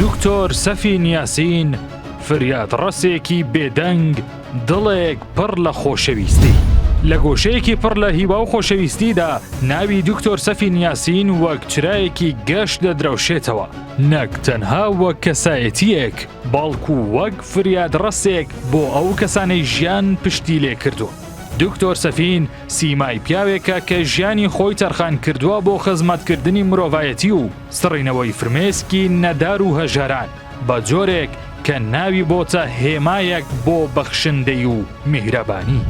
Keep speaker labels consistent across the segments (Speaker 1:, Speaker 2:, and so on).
Speaker 1: دکتۆر سەفین یاسین فریادڕەسێکی بێدەنگ دڵێک پڕ لە خۆشەویستی. لە گۆشەیەکی پڕ لە هیوا و خۆشەویستیدا ناوی دکتۆر سەفین یاسین وەک چرایەکی گەشت دەدرەوشێتەوە نەک تەنها وەک کەسایەتیەک بەڵکو وەک فریادڕەسێک بۆ ئەو کەسانەی ژیان پشتی لێ کردوون. دکتۆر سەفین سیمای پیاوێکە کە ژیانی خۆی تەرخان کردووە بۆ خزمەتکردنی مرۆڤایەتی و سڕینەوەی فرمێسکی نەدار و هەژاران بە جۆرێک کە ناوی بۆتە هێمایەک بۆ بەخشندەی و میهرەبانی.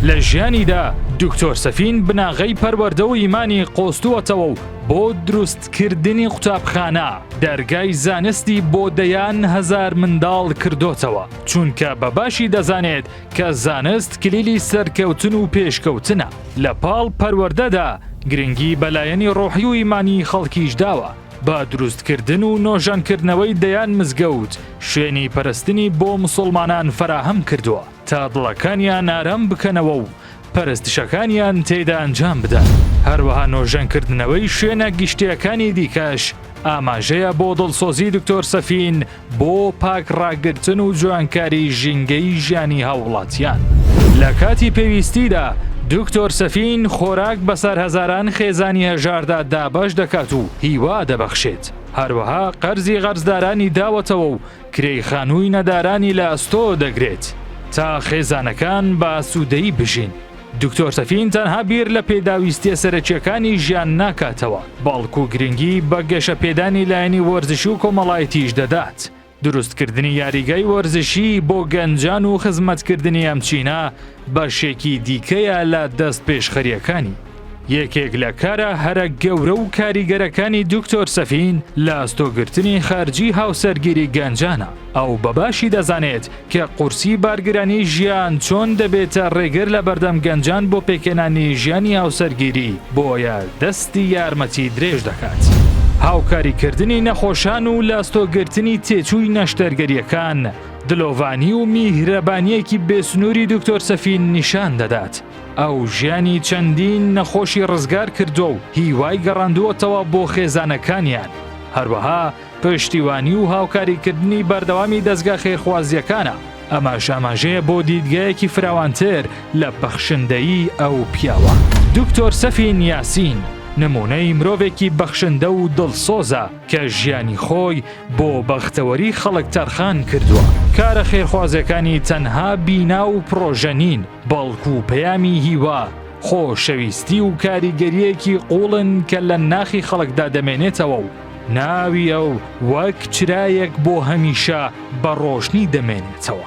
Speaker 1: لە ژیانیدا دکتۆر سەفین بناغەی پەروەردە و ئیمانی قۆستووەتەوە و بۆ دروستکردنی قوتابخانە دەرگای زانستی بۆ دەیان هەزار منداڵ کردۆتەوە چونکە بە باشی دەزانێت کە زانست کلیلی سەرکەوتن و پێشکەوتنە، لە پاڵ پەروەردەدا گرنگی بە لایەنی ڕۆحی و ئیمانی خەڵکیش داوە، بە دروستکردن و نۆژەنکردنەوەی دەیان مزگەوت شوێنی پەرستنی بۆ مسوڵمانان فەراهەم کردووە، تا دڵەکانیان ئارام بکەنەوە و پەرستشەکانیان تێیدا ئەنجام بدەن، هەروەها نۆژەنکردنەوەی شوێنە گشتییەکانی دیکەش ئاماژەیە بۆ دڵسۆزی دکتۆر سەفین بۆ پاک ڕاگرتن و جوانکاری ژینگەی ژیانی هاووڵاتیان. لە کاتی پێویستیدا دکتۆر سەفین خۆراک بەسەر هەزاران خێزانی هەژاردا دابەش دەکات و هیوا دەبەخشێت، هەروەها قەرزی قەرزدارانی داوەتەوە و کرێی خانووی نەدارانی لە ئەستۆ دەگرێت تا خێزانەکان بە ئاسوودەیی بژین. دکتۆر سەفین تەنها بیر لە پێداویستیە سەرەکیەکانی ژیان ناکاتەوە بەڵکو گرنگی بە گەشەپێدانی لایەنی وەرزشی و کۆمەڵایەتیش دەدات دروستکردنی یاریگای وەرزشی بۆ گەنجان و خزمەتکردنی ئەم چینە بەشێکی دیکەیە لە دەست پێشخەریەکانی. یەکێک لە کارە هەرە گەورە و کاریگەرەکانی دکتۆر سەفین لە ئەستۆگرتنی خەرجی هاوسەرگیری گەنجانە، ئەو بەباشی دەزانێت کە قورسی بارگرانی ژیان چۆن دەبێتە ڕێگر لە بەردەم گەنجان بۆ پێکهێنانی ژیانی هاوسەرگیری، بۆیە دەستی یارمەتی درێژ دەکات. هاوکاریکردنی نەخۆشان و لە ئەستۆگرتنی تێچووی نەشتەرگەرییەکان، دلۆڤانی و میهرەبانیەکی بێسنووری دکتۆر سەفین نیشان دەدات ئەو ژیانی چەندین نەخۆشی ڕزگار کردووە و هیوای گەڕاندووەتەوە بۆ خێزانەکانیان هەروەها پشتیوانی و هاوکاریکردنی بەردەوامی دەستگا خێرخوازیەکانە ئەماش ئاماژەیە بۆ دیدگایەکی فراوانتر لە بەخشندەیی ئەو پیاوە دکتۆر سەفین یاسین نمونەی مرۆڤێکی بەخشندە و دڵسۆزە کە ژیانی خۆی بۆ بەختەوەری خەڵک تەرخان کردووە کارە خێرخوازەکانی تەنها بینا و پڕۆژە نین بەڵکو و پەیامی هیوا خۆشەویستی و کاریگەریەکی قوڵن کە لە ناخی خەڵکدا دەمێنێتەوە و ناوی ئەو وەک چرایەک بۆ هەمیشە بە ڕۆشنی دەمێنێتەوە.